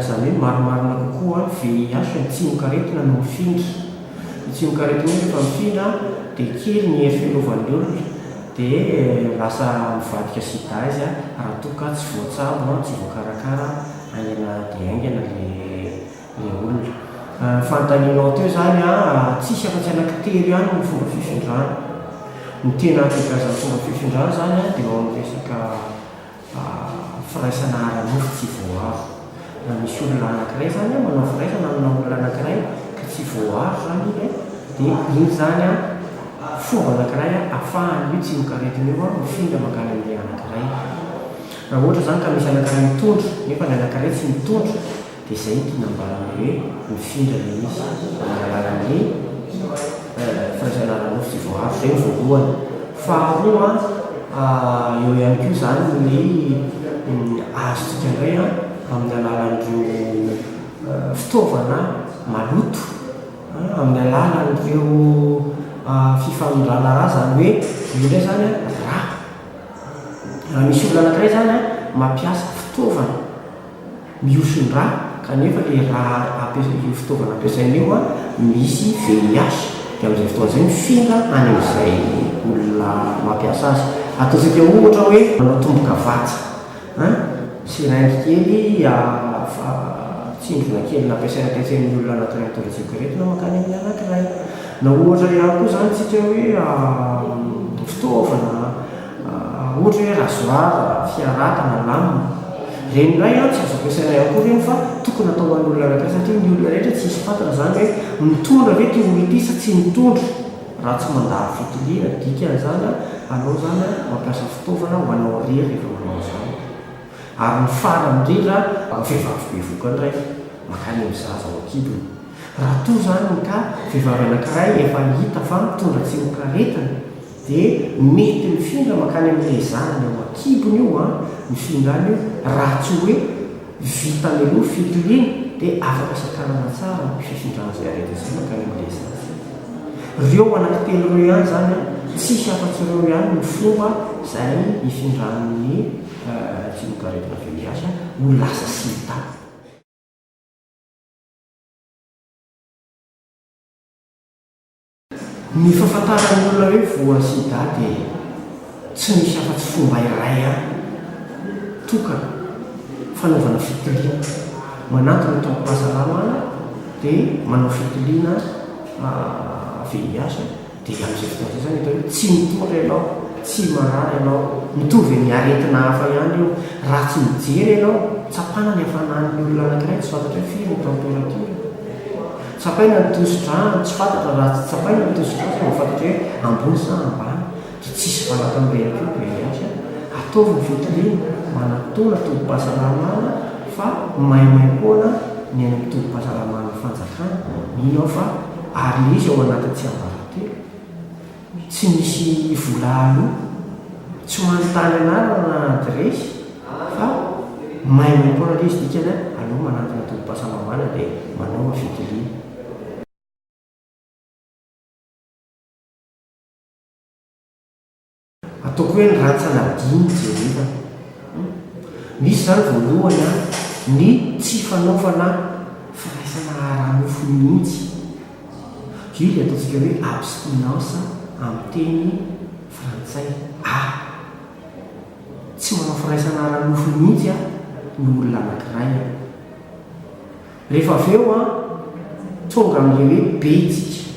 Izany hoe marimarina kokoa ny VIH ny tsimokaretina no mifindra. Ny tsimokaretina iny rehefa mifindra dia kely ny hery fiarovan'ny olona dia lasa mivadika sida izy raha toa ka tsy voatsabo, tsy voakarakara haingana dia haingana ilay olona. Ny fanontanianao teo izany, tsisy afa-tsy anankitelo ihany ny fomba fifindrany. Ny tena ankabeazan'ny fomba fifindrany izany dia eo amin'ny resaka. firaisana ara-nofo tsy voaaro. Raha misy olona anankiray zany an, manao firaisana amina olona anankiray ka tsy voaaro zany iny an, dia iny zany an fomba anankiray an afahan'io tsimokaretina io an mifindra mankany amin'ilay anankiray. Raha ohatra zany ka misy anankiray mitondra nefa ny anankiray tsy mitondra, Dia izay no tiana ambarany hoe mifindra mihitsy amin'ny alalan'ny fanjanahana nofo vao avy izay no voalohany. Faharoa eo ihany koa izany ny azontsika indray amin'ny alalan'ireo fitaovana maloto, amin'ny alalan'ireo fifanondrana ra izany hoe io indray izany ra. Raha misy olona anankiray izany mampiasa fitaovana. Mihoson-drà kanefa le rà ampiasa io fitaovana ampiasaina io an, misy VIH dia amin'izay fotoana izay mifindra any amin'izay olona mampiasa azy. Ataontsika ohatra hoe manao tombo-kavatsy an, seringue kely fa tsindrona kely nampiasaina tetsy amin'ny olona anaty rétro-vision ireto na mankany amin'ny anankiray. Na ohatra ihany koa izany tsika hoe fitaovana Ohatra hoe rasoir, fiaraka na lame. Ireny indray an, tsy azo ampiasaina ihany koa ireny fa tokony atao ho an'olona anankiray satria ny olona rehetra tsy hisy fantatra izany hoe mitondra ve ity olona ity sa tsy mitondra. Raha tsy mandalo fitiliana, dikan'izany an, anao izany an, mampiasa fitaovana ho anao irery rehefa manao an'izany. Ary ny farany indrindra an, raha vehivavy bevoka indray, mankany amin'ny zaza ao an-kibony. Raha toa izany ka vehivavy anankiray efa hita fa mitondra tsimokaretina, Dia mety mifindra mankany amin'ny hezarana eo an-kibony io an, ny findrany io, raha tsy hoe vitany aloha fitiliana dia afaka sakanana tsara ny fifindrana izay aretina izay mankany amin'ny hezarana. Ireo anaky telo ireo ihany izany an, tsisy afa-tsy ireo ihany no fomba izay ifindran'ny finoan-karetina VIH ho lasa sida. Ny fahafantaran'ny olona hoe voa sida dia tsy misy afa-tsy fomba iray ihany tokana fanaovana fitiliana. Manampy ny tobim-pahasalamana dia manao fitiliana VIH dia amin'izay fotoana izay izany hita hoe tsy mitondra ianao, tsy marary ianao. Mitovy amin'ny aretina hafa ihany io. Raha tsy mijery ianao, tsapana ny hafanan'ny olona anankiray tsy fantatra hoe firy ny temperature. Tsapaina ny tosi-dra, tsy fantatra raha tsy tsapaina ny tosi-dra fa mahafantatra hoe ambony sa ambany, dia tsy hisy valaka amin'ilay aponga hiady azy. Ataovy ny fitoriana mba hanatona tobim-pahasalamana fa maimaimpoana ny any amin'ny tobim-pahasalaman'ny fanjakana. Mino aho fa ary misy ao anatin'ny tsiambaratelo. Tsy misy vola aloa. Tsy manontany anarana na adiresy fa maimaim poana lesy dikany an, aleo manantona tobim-pahasalamana dia manaova fitiliana. Ataoko hoe ny rantsana adino jerena. Misy izany voalohany an, ny tsy fanaovana firaisana ara-nofo mihitsy. Vily ataontsika hoe abstinence amin'ny teny frantsay. A, Tsy manao firaisana ara-nofo mihitsy ny olona anankiray. Rehefa avy eo tonga amin'ilay hoe B isika.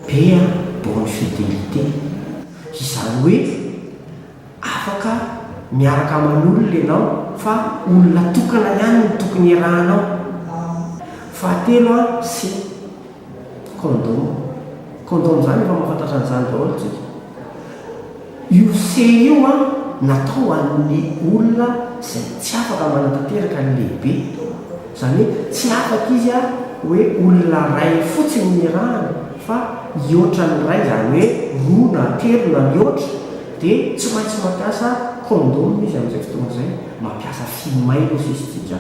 B, bonne fidelité. Izany hoe. Afaka miaraka aman'olona ianao fa olona tokana ihany no tokony iarahanao. Fahatelo a, sy, Kondoma. Kondoma izany efa mahafantatra an'izany daholo isika. Io sy io a, natao ho an'ny olona izay tsy afaka manatanteraka ny lehibe. Izany hoe tsy afaka izy hoe olona iray fotsiny ny nirahany fa hihoatra ny iray izany hoe roa na telo na mihoatra dia tsy maintsy mampiasa condom izy amin'izay fotoana izay, mampiasa fille may hozy izy isika.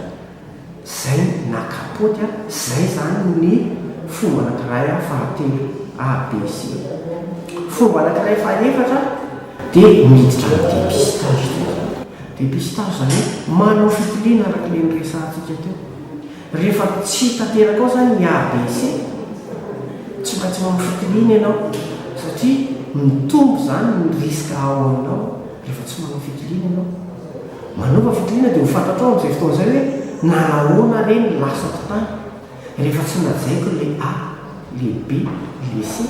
Izay na kapoty a, izay izany ny fomba anankiray a fahatelo A, B, C. Fomba anankiray fahaefatra dia miditra amin'ny dépistage. Dépistage izany hoe manao fitiliana araka ilay niresahantsika teo. Rehefa tsy hita teraka ao izany ny ABC, tsy maintsy manao fitiliana ianao satria mitombo izany ny risque ao aminao rehefa tsy manao fitiliana ianao. Manaova fitiliana dia ho fantatrao amin'izay fotoana izay hoe nanahoana re ny lasako tany. Rehefa tsy lazaiko ilay A, ilay B, ilay C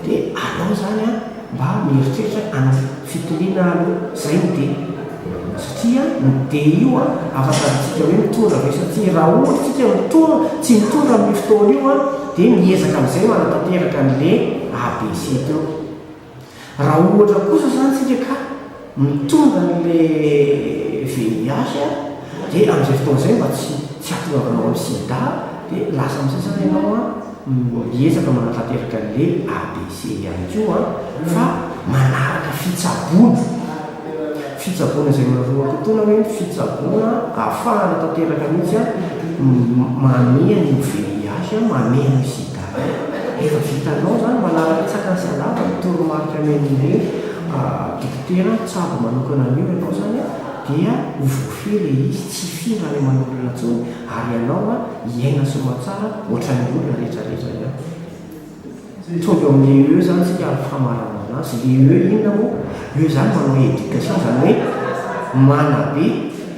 dia aleo izany aho mba mieritreritra an'ilay fitoniana aloha, izay no D. Satria ny D io afaka amintsika hoe mitondra ve satria raha ohatra isika mitondra, tsy mitondra amin'io fotoana io dia miezaka amin'izay manatanteraka an'ilay A, B, C teo. Raha ohatra kosa zany tsika ka mitondra an'le VIH a de am'zay fotoana zay mba tsy tsy hahatongavanao amin'ny sida de lasa am'zay zany ianao a miezaka manatanteraka an'le ABC ihany koa fa manaraka fitsaboana fitsaboana zay maroatotoana hoe fitsaboana ahafahana tanteraka mihitsy a mamehy an'io VIH mamehy an'io sida. Efa vitanao zany manaraka tsaka ny salama ny toromarika men'ireo dokotera mitsabo manokana an'io ianao zany a dia ho voafehy le izy tsy hifindra any aman'olona intsony ary ianao a hiaina soamatsara ohatran'ny olona retraretra ihany. Mitovy eo amin'ny le eux zany isika amin'ny famaranana azy. Le eux inona moa? Eux zany manao éducation zany hoe manabe,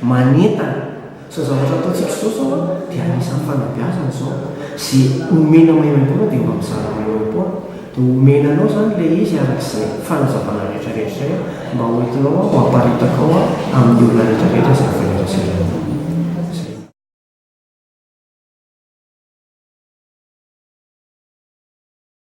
manentana. Izao zavatra ataontsika izao zao a dia anisan'ny fanabeazana izao, ze omena maimaimpoana dia mba mizara maimaimpoana, dia omena anao izany ilay izy arak'izay fanazavana rehetra rehetra izay mba ho entinao ho aparitakao amin'ny olona rehetra rehetra izay efa neraseranao izay.